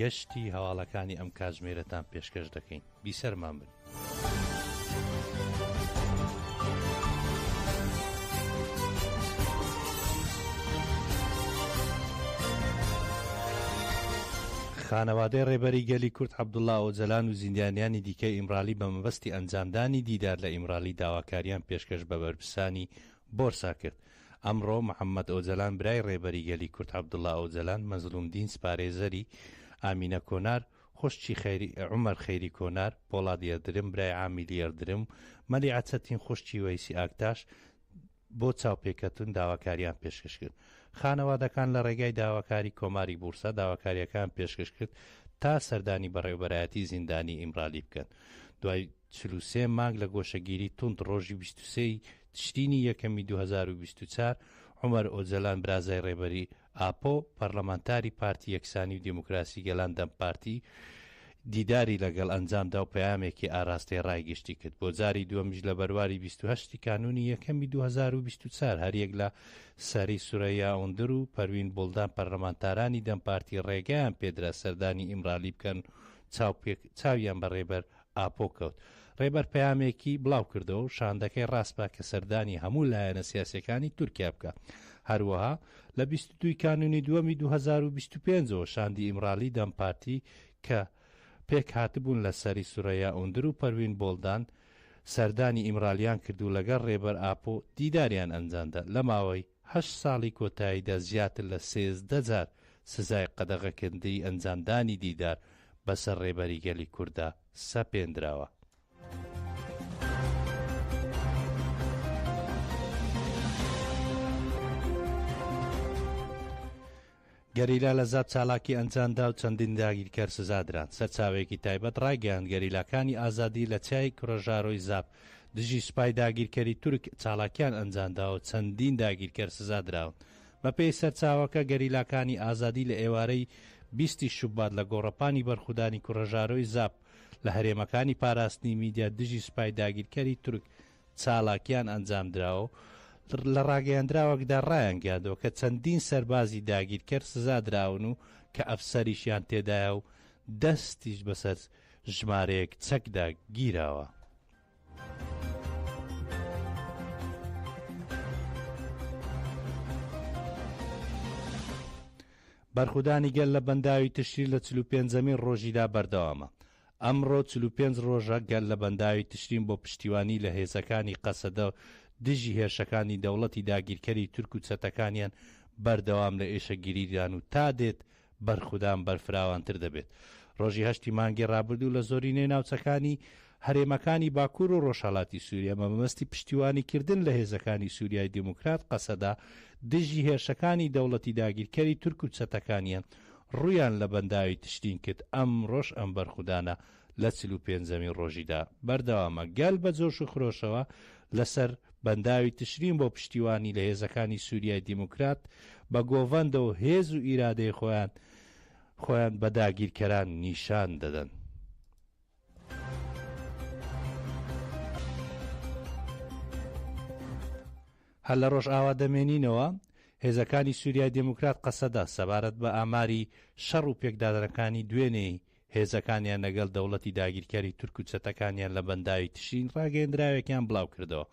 گەشتی هەواڵەکانی ئەم کاتژمێرەتان پێشکەش دەکەین. بیسەرمان بن. خانەوادەی ڕێبەری گەلی کورد عەبدوڵا ئۆجەلان و زیندانیانی دیکەی ئیمرالی بە مەبەستی ئەنجامدانی دیدار لە ئیمرالی داواکاریان پێشکەش بە بەرپرسانی بۆرسا کرد. ئەمڕۆ محەممەد ئۆجەلان برای ڕێبەری گەلی کورد عەبدوڵا ئۆجەلان، مەزڵووم دینچ پارێزەری، ئامینە کۆنار، خوشکی خەیری، عومەر خەیری کۆنار، پۆڵاد یەردرم، برای عامیلی یەردرم، مەلی ئەچەتین، خوشکی وەیسی ئاکتاش، بۆ چاوپێکەتن داواکارییان پێشکەش کرد. خانەوادەکان لە ڕێگای داواکاری کۆماری بوورسا داواکارییەکەیان پێشکەش کرد تا سەردانی بەڕێوەبەرایەتی زیندانی ئیمرالی بکەن دوای چل و سێ مانگ لە گۆشەگیری توند ڕۆژی بیست و سێ ی تشرینی یەکەمی دوو هەزار و بیست و چوار، عومەر ئۆجەلان برازای ڕێبەری ئاپۆ، پەرلەمانتاری پارتی یەکسانی و دێموکراسی گەلان، دەم پارتی، دیداری لەگەڵ ئەنجامدا و پەیامێکی ئاراستەی ڕای گشتی کرد. بۆ جاری دووەمیش لە بەرواری بیست و هەشت ی کانوونی یەکەمی دوو هەزار و بیست و چوار هەریەک لە سەری سورەیا ئوندر و پەروین بوڵدان پەرلەمانتارانی دەم پارتی ڕێگەیان پێدرا سەردانی ئیمرالی بکەن و چاویان بە ڕێبەر ئاپۆ کەوت. ڕێبەر پەیامێکی بڵاوکردەوە و شاندەکەی ڕاسپارد کە سەردانی هەموو لایەنە سیاسییەکانی تورکیا بکات. هەروەها لە بیست و دوو کانوونی دووەمی دوو هەزار و بیست و پێنج ەوە شاندی ئیمرالی دەم پارتی کە پێکهاتبوون لە سەری سورەیا ئوندر و پەروین بۆڵدان سەردانی ئیمرالیان کرد و لەگەڵ ڕێبەر ئاپۆ دیداریان ئەنجامدا لە ماوەی هەشت ساڵی کۆتاییدا زیاتر لە سێزدە جار سزای قەدەغەکردنی ئەنجامدانی دیدار بەسەر ڕێبەری گەلی کورددا سەپێندراوە. گەریلا لە زاپ چالاکی ئەنجامدا و چەندین داگیرکەر سزا دران. سەرچاوەیەکی تایبەت ڕایگەیاند گەریلاکانی ئازادی لە چیای کورەژارۆی زاپ دژی سوپای داگیرکەری تورک چالاکیان ئەنجامداوە و چەندین داگیرکەر سزا دراون. بەپێی سەرچاوەکە گەریلاکانی ئازادی لە ئێوارەی بیست ی شوبات لە گۆڕەپانی بەرخودانی کورەژارۆی زاپ لە هەرێمەکانی پاراستنی میدیا دژی سوپای داگیرکەری تورک چالاکییان ئەنجامدراوە و لە ڕاگەیەندراوێکدا ڕایانگەیاندووە کە چەندین سەربازی داگیرکەر سزادراون و کە ئەفسەریشیان تێدایە و دەستیش بەسەر ژمارەیەک چەکدا گیراوە. بەرخودانی گەل لە بەنداوی تشرین لە چل و پێنجەمین ڕۆژیدا بەردەوامە، ئەمڕۆ چل و پێنج ڕۆژە گەل لە بەنداوی تشرین بۆ پشتیوانی لە هێزەکانی قەسەدە دژی هێرشەکانی دەوڵەتی داگیرکەری تورک و چەتەکانیان بەردەوام لە ئێشەگیریدان و تا دێت بەرخودان بەرفراوانتر دەبێت. ڕۆژی هەشتی مانگی ڕابردوو لە زۆرینەی ناوچەکانی هەرێمەکانی باکور و ڕۆژهەڵاتی سوریا بە مەبەستی پشتیوانیکردن لە هێزەکانی سوریای دیموکرات قەسەدە دژی هێرشەکانی دەوڵەتی داگیرکەری تورک و چەتەکانیان ڕوویان لە بەنداوی تشرین کرد، ئەمڕۆش ئەم بەرخودانە لە چل و پێنجەمین ڕۆژیدا بەردەوامە، گەل بە جۆش و خرۆشەوە لەسەر بەنداوی تشرین بۆ پشتیوانی لە هێزەکانی سوریای دیموکرات بە گۆڤەندە و هێز و ئیرادەی خۆیان خۆیان بە داگیرکەران نیشان دەدەن. هەر لە ڕۆژئاوا دەمێنینەوە، هێزەکانی سوریای دێموکرات قەسەدە سەبارەت بە ئاماری شەڕ و پێکدادنەکانی دوێنێی هێزەکانیان لەگەل دەوڵەتی داگیرکەری تورک و چەتەکانیان لە بەنداوی تشرین ڕاگەیەندراوێکیان بڵاوکردەوە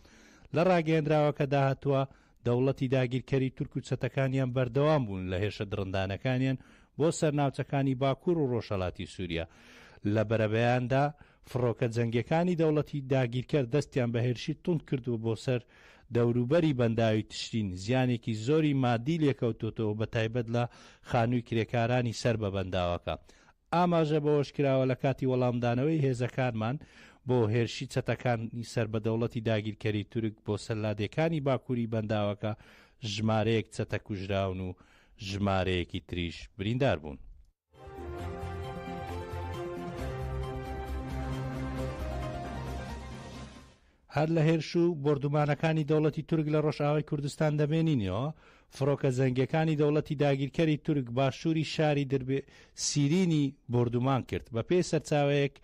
لە ڕاگەیەندراوەکەدا هاتووە دەوڵەتی داگیرکەری تورک و چەتەکانیان بەردەوام بوون لە هێرشە دڕندانەکانیان بۆ سەر ناوچەکانی باکور و ڕۆژهەلاتی سوریا لە بەرەبەیاندا فڕۆکە جەنگیەکانی دەوڵەتی داگیرکەر دەستیان بە هێرشی توند کردووە بۆ سەر دەوروبەری بەنداوی تشرین زیانێکی زۆری ماددی لێکەوتۆتەوە بە تایبەت لە خانووی کرێکارانی سەر بە بەنداوەکە. ئاماژە بەوەشکراوە لە کاتی وەڵامدانەوەی هێزەکانمان بۆ هێرشی چەتەکانی سەر بە دەوڵەتی داگیرکەری تورک بۆ سەر لادێکانی باکووری بەنداوەکە ژمارەیەک چەتە کوژراون و ژمارەیەکی تریش بریندار بوون. هەر لە هێرش و بردومانەکانی دەوڵەتی تورک لە ڕۆژئاوای کوردستان دەمێنینەوە فڕۆکە زەنگەکانی دەوڵەتی داگیرکەری تورک باشووری شاری دربێ سیرینی بردومان کرد بە پێی سەرچاوەیەک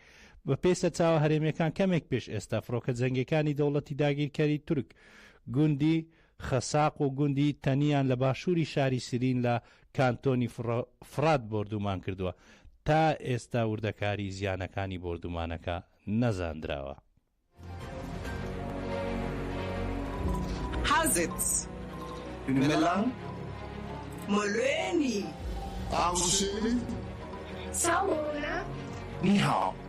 بە پێی سەرچاوە هەرێمیەکان کەمێک پێش ئێستا فڕۆکە جەنگەکانی دەوڵەتی داگیرکەری تورک گوندی خەساق و گوندی تەنیان لە باشووری شاری سیرین لە کانتۆنی فڕات بۆردوومان کردووە، تا ئێستا وردەکاریی زیانەکانی بۆردوومانەکە نەزاندراوە. حەزت لە مۆلۆێنی ئاڵوشێوی چاوگۆنە؟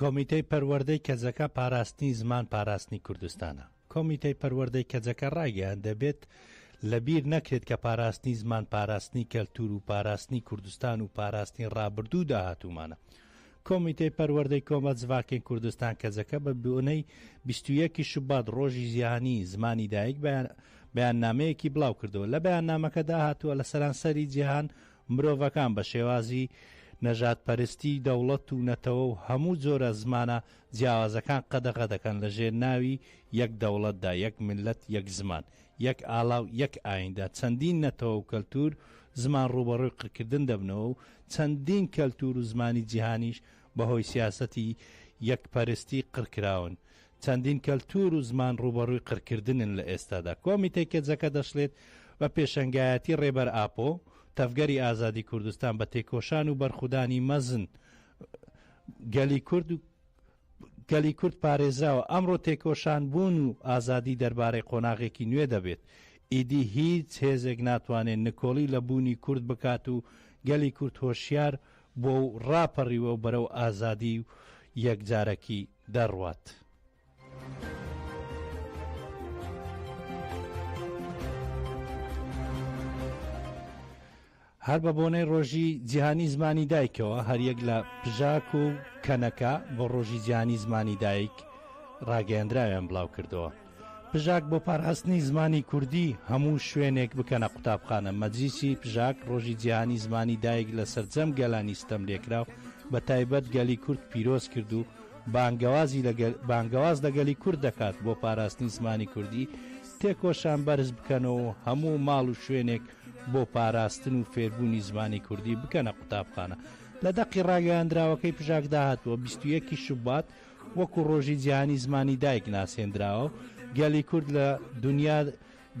کۆمیتەی پەروەردەی کەجەکە پاراستنی زمان پاراستنی کوردستانە. کۆمیتەی پەروەردەی کەجەکە ڕایگەیاند دەبێت لەبیر نەکرێت کە پاراستنی زمان پاراستنی کەلتور و پاراستنی کوردستان و پاراستنی ڕابردوو و داهاتوومانە. کۆمیتەی پەروەردەی کۆمە جڤاکەی کوردستان کەجەکە بە بۆنەی بیست و یەک شوبات ڕۆژی جیهانی زمانی دایک بەیاننامەیەکی بڵاوکردەوە لە بەیاننامەکەدا هاتووە لە سەرانسەری جیهان مرۆڤەکان بە شێوازی نەژادپەرستی، دەوڵەت و نەتەوە و هەموو جۆرە زمانە جیاوازەکان قەدەغە دەکەن لە ژێر ناوی یەک دەوڵەتدا، یەک میللەت، یەک زمان، یەک ئالا و یەک ئاییندا چەندین نەتەوە و کەلتوور و زمان ڕووبەڕووی قڕکردن دەبنەوە و چەندین کەلتوور و زمانی جیهانیش بەهۆی سیاسەتی یەک پەرستی قڕکراون، چەندین کەلتوور و زمان ڕووبەڕووی قڕکردنن لە ئێستادا. کۆمیتەی کەجەکە دەشڵێت، بە پێشەنگایەتی ڕێبەر ئاپۆ، تەڤگەری ئازادی کوردستان بە تێکۆشان و بەرخودانی مەزن گەلی کورد، گەلی کورد پارێزراوە، ئەمڕۆ تێکۆشان بوون و ئازادی دەربارەی قۆناغێکی نوێ دەبێت، ئیدی هیچ هێزێک ناتوانێت نکۆڵی لە بوونی کورد بکات و گەلی کورد هۆشیار و بووە و ڕاپەڕیوە و بەرەو ئازادی و یەکجارەکی دەڕوات. هەر بە بۆنەی ڕۆژی جیهانی زمانی دایکەوە هەریەک لە پژاک و کەنەکە بۆ ڕۆژی جیهانی زمانی دایک ڕاگەیەندراویان بڵاو کردەوە. پژاک بۆ پاراستنی زمانی کوردی هەموو شوێنێک بکەنە قوتابخانە مەجلیسی پژاک ڕۆژی جیهانی زمانی دایک لە سەرجەم گەلانی ستەم لێکراو بە تایبەت گەلی کورد پیرۆز کرد و بانگەوازی لەگەل بانگەواز لەگەلی کورد دەکات بۆ پاراستنی زمانی کوردی تێکۆشان بەرز بکەنەوە و هەموو ماڵ و شوێنێک بۆ پاراستن و فێربوونی زمانی کوردی بکەنە قوتابخانە لە دەقی ڕاگەیاندراوەکەی پژاک داهاتوە 21 شوبات و وەکو ڕۆژی جیهانی زمانی دایک ناسێندراوە و گەلی کورد لە دونیا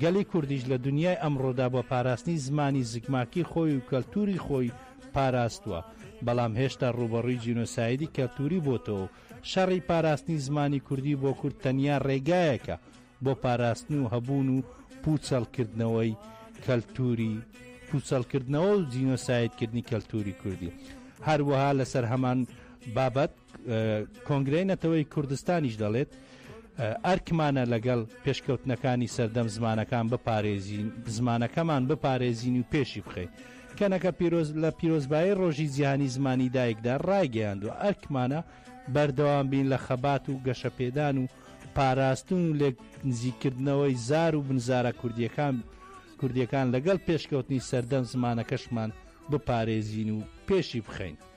گەلی کوردیش لە دونیای ئەمڕۆدا بە پاراستنی زمانی زگماکی خۆی و کەلتوری خۆی پاراستوە بەڵام هێشتا ڕووبەڕووی جینۆسایدی کەلتوری بۆتەوە و شەڕی پاراستنی زمانی کوردی بۆ کورد تەنیا ڕێگایەکە بۆ پاراستن و هەبوون و پوچەڵ کردنەوەی کەلتوری پوچەڵ کردنەوە و جینۆسایدکردنی کەلتوری کوردی هەروەها لەسەر هەمان بابەت کۆنگرەی نەتەوەی کوردستانیش دەڵێت ئەرکمانە لەگەڵ پێشکەوتنەکانی سەردەم زمانەکان بپارێزین زمانەکەمان بپارێزین و پێشی بخەین کەنەکە پیرۆز لە پیرۆزبایی ڕۆژی جیهانی زمانی دایکدا ڕایگەیاندوە ئەرکمانە بەردەوام بین لە خەبات و گەشەپێدان و پاراستن و لێک نزیکردنەوەی زار و بنزارە کوردیەکان کوردیەکان لەگەڵ پێشکەوتنی سەردەم زمانەکەشمان بپارێزین و پێشی بخەین.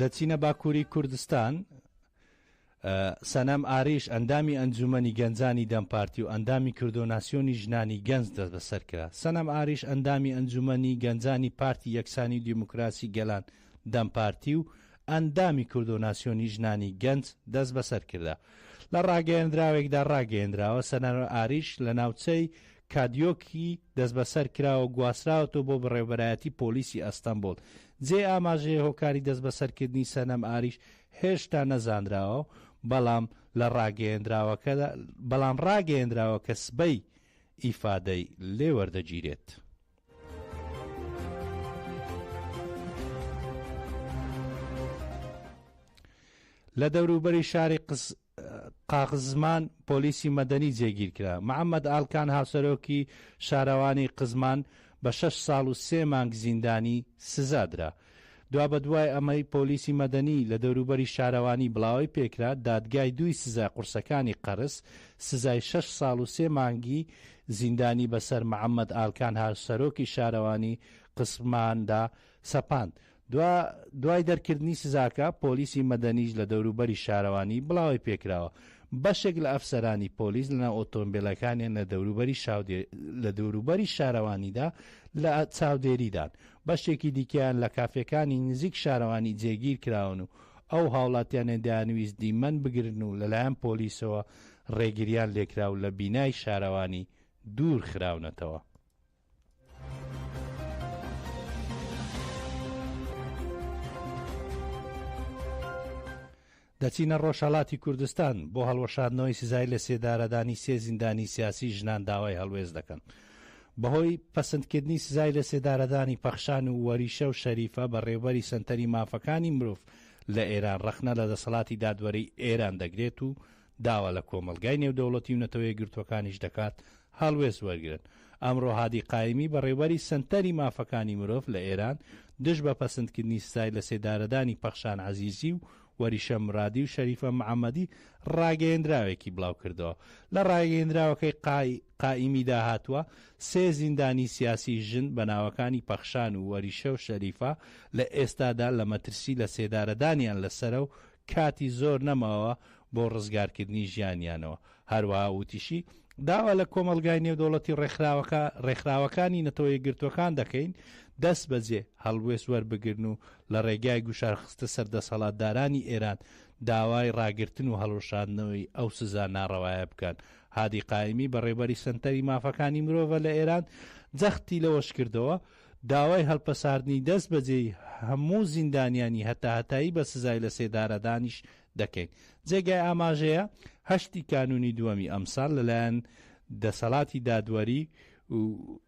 دەچینە باکووری کوردستان، سەنەم ئاریش ئەندامی ئەنجوومەنی گەنجانی دەم پارتی و ئەندامی کردۆناسیۆنی ژنانی گەنج دەستبەسەر کرا. سەنەم ئاریش ئەندامی ئەنجوومەنی گەنجانی پارتی یەکسانی و دیموکراسی گەلان دەم پارتی و ئەندامی کردۆناسیۆنی ژنانی گەنج دەستبەسەر کرا. لە ڕاگەیەندراوێکدا ڕاگەیەندراوە، سەنەم ئاریش لە ناوچەی کادیۆکی دەستبەسەر کراوە و گواستراوەتەوە بۆ بەڕێوەبەرایەتی پۆلیسی ئەستەنبوڵ جێی ئاماژەیە هۆکاری دەستبەسەرکردنی سەنەم ئاریش هێشتا نەزانراوە، بەڵام لە ڕاگەیێنراوەکەدا بەڵام ڕاگەیێنراوە کە سبەی ئیفادەی لێ وەردەگیرێت. لە دەوروبەری شاری قس قاقزمان پۆلیسی مەدەنی جێگیرکرا. محەمەد ئالکان هاوسەرۆکی شارەوانی قزمان بە شەش ساڵ و سێ مانگ زیندانی سزا درا. دوابەدوای ئەمەی پۆلیسی مەدەنی لە دەوروبەری شارەوانی بڵاوەی پێکرا، دادگای دووی سزای قورسەکانی قەرس سزای شەش ساڵ و سێ مانگی زیندانی بەسەر محەمەد ئالکان هاوسەرۆکی شارەوانی قزماندا سەپاند. دوا دوای دەرکردنی سزاکە، پۆلیسی مەدەنیش لە دەوروبەری شارەوانی بڵاوەی پێکراوە. بەشێک لە ئەفسەرانی پۆلیس لەناو ئۆتۆمبێلەکانیان لە دەوروبەری شاودێ لە دەوروبەری شارەوانیدا لە چاودێریدان. بەشێکی دیکەیان لە کافێکانی نزیک شارەوانی جێگیر کراون و ئەو هاوڵاتیانە دەیانویست دیمەن بگرن و لەلایەن پۆلیسەوە ڕێگرییان لێکرا و لە بینای شارەوانی دوور خراونەتەوە. دەچینە ڕۆژهڵاتی کوردستان بۆ هەڵوەشاندنەوەی سزای لە سێدارەدانی سێ زیندانی سیاسی ژنان داوای هەڵوێز دەکەن بەهۆی پسندکردنی سزای لە سێدارەدانی پەخشان و وەریشە و شەریفە بە ڕێوبەری سنتەری مافەکانی مرۆڤ لە ئێران ڕەخنە لە دەسەڵاتی دادوەری ئێران دەگرێت و داوا لە کۆمەڵگای نێودەوڵەتی و نەتەوەیەکگرتووەکانیش دەکات هەڵوێست وەرگرن. ئەمڕۆ هادی قایمی، بەڕێوەبەری سەنتەری مافەکانی مرۆڤ لە ئێران، دژ بە پەسندکردنی سزای لەسێدارەدانی پەخشان عەزیزی و وەریشە مرادی و شەریفە محەمەدی ڕاگەیەندراوێکی بڵاوکردەوە. لە ڕاگەیەندراوەکەی قائیمیدا هاتووە، سێ زیندانیی سیاسی ژن بە ناوەکانی پەخشان و وەریشە و شەریفە لە ئێستادا لە مەترسی لەسێدارەدانیان لەسەرە و کاتی زۆر نەماوە بۆ ڕزگارکردنی ژیانیانەوە. هەروەها وتیشی، داوا لە کۆمەڵگای نێودەوڵەتی ڕێکخراوەکە ڕێکخراوەکانی نەتەوە یەکگرتووەکان دەکەین دەست بەجێ هەڵوێست وەربگرن و لە ڕێگای گوشار خستە سەر دەسەڵاتدارانی ئێران داوای ڕاگرتن و هەڵوەشاندنەوەی ئەو سزا ناڕەوایە بکەن. هادی قائیمی بەڕێوبەری سەنتەری مافەکانی مرۆڤە لە ئێران جەختی لەوەشکردەوە، داوای هەڵپەساردنی دەست بەجێی هەموو زیندانیانی هەتاهەتایی بە سزای لەسێدارەدانیش دەکەین. جێگای ئاماژەیە هەشت ی کانوونی دووەمی ئەمساڵ لەلایەن دەسەڵاتی دادوەری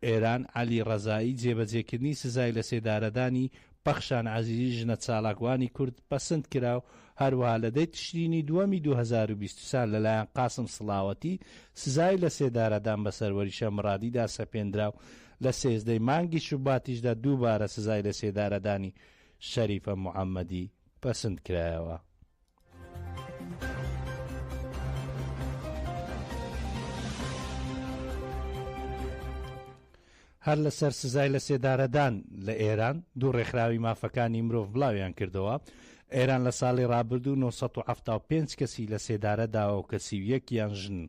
ئێران عەلی ڕەزایی جێبەجێکردنی سزای لەسێدارەدانی پەخشان عەزیزی ژنە چاڵاکوانی کورد پەسند کرا و هەروەها لە دەی تشرینی دووەمی دوو هەزار و بیست و چوار لەلایەن قاسم سڵاوەتی سزای لەسێدارەدان بە سەروەریشە مڕادیدا سەپێندرا و لە سێزدە ی مانگی شوباتیشدا دووبارە سزای لەسێدارەدانی شەریفە محەمەدی پەسند کرایەوە. هەر لەسەر سزای لەسێدارەدان لە ئێران دوو ڕێکخراوی مافەکانی مرۆڤ بڵاویان کردەوە ئێران لە ساڵی ڕابردوو 975 کەسی لە سێدارە داوە و کەسی و یەکیان ژن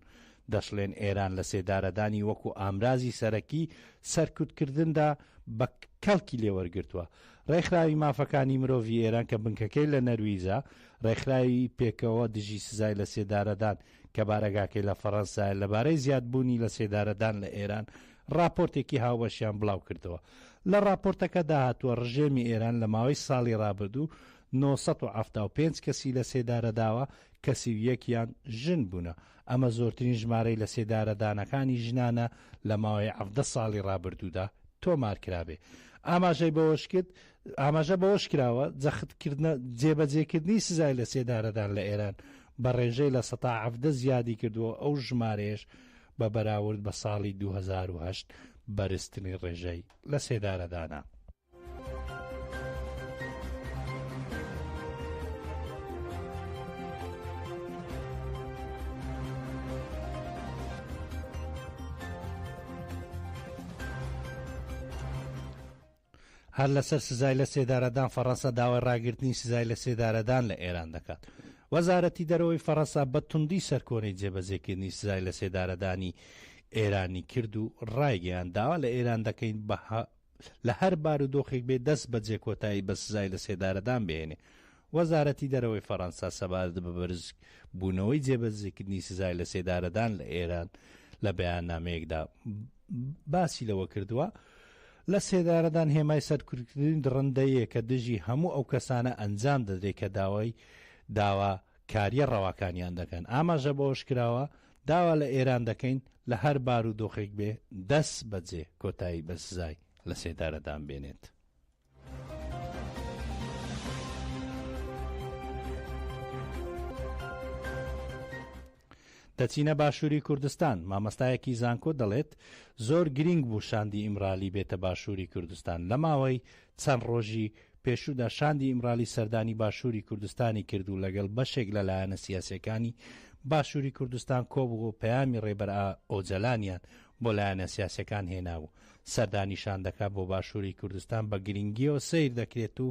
دەشڵێن ئێران لە سێدارەدانی وەکو ئامرازی سەرەکی سەرکوتکردندا بە کەڵکی لێوەرگرتووە. ڕێکخراوی مافەکانی مرۆڤی ئێران کە بنکەکەی لە نەرویجە، ڕێکخراوی پێکەوە دژی سزای لە سێدارەدان کە بارەگاکەی لە فەڕەنسایە لەبارەی زیادبوونی لە سێدارەدان لە ئێران ڕاپۆرتێکی هاوبەشیان بڵاوکردەوە. لە ڕاپۆرتەکەدا هاتووە ڕژێمی ئێران لە ماوەی ساڵی ڕابردوو نۆ سەد و حەفتا و پێنج کەسی لە سێدارەداوە، کە سی و یەک یان ژن بوونە. ئەمە زۆرترین ژمارەی لەسێدارەدانەکانی ژنانە لە ماوەی حەڤدە ساڵی ڕابردوودا تۆمارکرابێ. ئاماژەی بەوەشکرد، ئاماژە بەوەشکراوە، جەختکردنە جێبەجێکردنی سزای لەسێدارەدان لە ئێران بە ڕێژەی لە سەتا حەڤدە زیادی کردووە و ئەو ژمارەیەش بە بەراورد بە ساڵی دوو هەزار و هەشت بەرزترین ڕێژەی لەسێدارەدانە. هەر لەسەر سزای لە سێدارەدان فەڕەنسا داوای ڕاگررتنی سزای لە سێدارەدان لە ئێران دەکات وەزارەتی دەرەوەی فەڕەنسا بە توندی سەرکۆنەی جێبەزێکردنی سزای لە سێدارەدانی ئێرانی کرد و ڕایگەیان داوا لە ئێران دەکەین بە لە هەر بارودۆخێک بێ دەست بەجێ کۆتایی بە سزای لە سێدارەدان بهێنێ. وەزارەتی دەرەوەی فەرەنسا سەبارەت بە بەرز بوونەوەی جێبەجزیکردنی سزای لە سێدارەدان لە ئێران لە بەیاننامەیەکدا باسی لەوە کردووە، لە سێدارەدان هێمای سەرکوتکردنی دڕندەیەکە دژی هەموو ئەو کەسانە ئەنجام دەدرێت کە داوای داوا کاریە ڕەواکانیان دەکەن ئاماژە بەوەش کراوە داوا لە ئێران دەکەین لە هەر بارودۆخێک بێ دەست بەجێ کۆتایی بە سزای لە سێدارەدان بێنێت. دەچینە باشووری کوردستان مامەستایەکی زانکۆ دەڵێت زۆر گرینگ بوو شاندی ئیمرالی بێتە باشووری کوردستان لە ماوەی چەند ڕۆژی پێشوودا شاندی ئیمرالی سەردانی باشووری کوردستانی کرد و لەگەڵ بەشێک لە لایەنە سیاسییەکانی باشووری کوردستان کۆبوو و پەیامی ڕێبەر ئۆجەلانیان بۆ لایەنە سیاسییەکان هێنا و سەردانی شاندەکە بۆ باشووری کوردستان بە گرنگیەوە سەیر دەکرێت و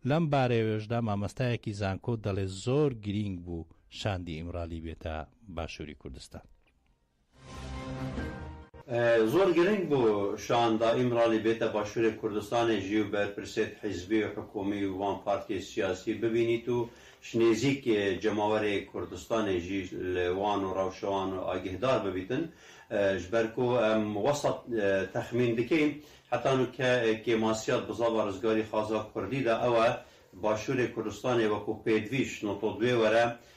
لەم بارەیەوەشدا مامەستایەکی زانکۆ دەڵێت زۆر گرینگ بوو شاندی ئیمرالی بێتە باشووری کوردستان. زۆر گرنگ بوو شان دا ئیمرالی بێتە باشوورێ کوردستانێ ژیو بەر پرسێت حیزبی و حکوومی و وان پارتیێ سیاسی ببینیت و شنێزیک جەماوەرێ کوردستانێ ژی لە وان و راوشەوان و ئاگهدار ببیتن ژ بەر کو ئەم وەسەت تەخمین دکەیم هەتا نوو کە کێ ماسیات بزاڤە رزگاری خازا کوردی دا ئەوە باشوورێ کوردستانێ وەکوو پێدڤی شنۆتۆ دوێ وەرە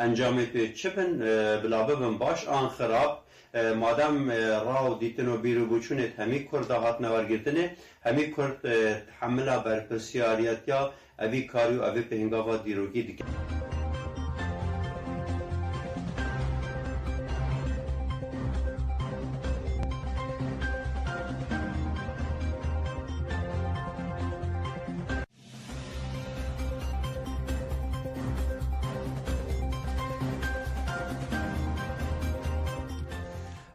ئەنجامێ پێ چ بن بلا ببم باش ئان خراپ مادام ڕا و دیتن و بیر و بوچونێت هەمی کوردا هاتنە وەرگرتنێ هەمی کورد تحملا بەرپرسیاریەتیا ئەڤی کاری و ئەڤی پهنگاڤا دیرۆکی دکەن.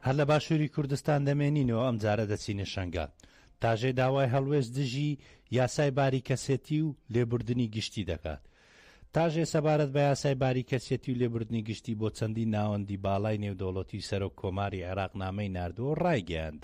هەر لە باشووری کوردستان دەمێنینەوە ئەم جارە دەچینە شەنگال تاژێ داوای هەڵوێست دژی یاسای باری کەسێتی و لێبوردنی گشتی دەکات تاژێ سەبارەت بە یاسای باری کەسێتی و لێبوردنی گشتی بۆ چەندی ناوەندی باڵای نێودەوڵەتی سەرۆک کۆماری عێراق نامەی نردووە ڕایگەیاند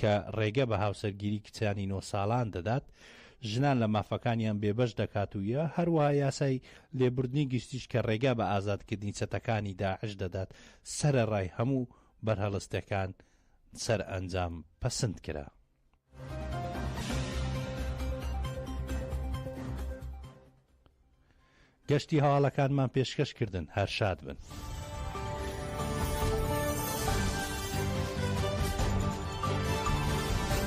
کە ڕێگە بە هاوسەرگیری کچانی نۆ ساڵان دەدات، ژنان لە مافەکانیان بێبەش دەکات و یە، هەروەها یاسای لێبوردنی گشتیش کە ڕێگا بە ئازادکردنی چەتەکانی داعش دەدات، سەرەڕای هەموو بەرهەڵستەکان سەرئەنجام پەسند کرا. گەشتی هەواڵەکانمان پێشکەش کردن هەر شاد بن.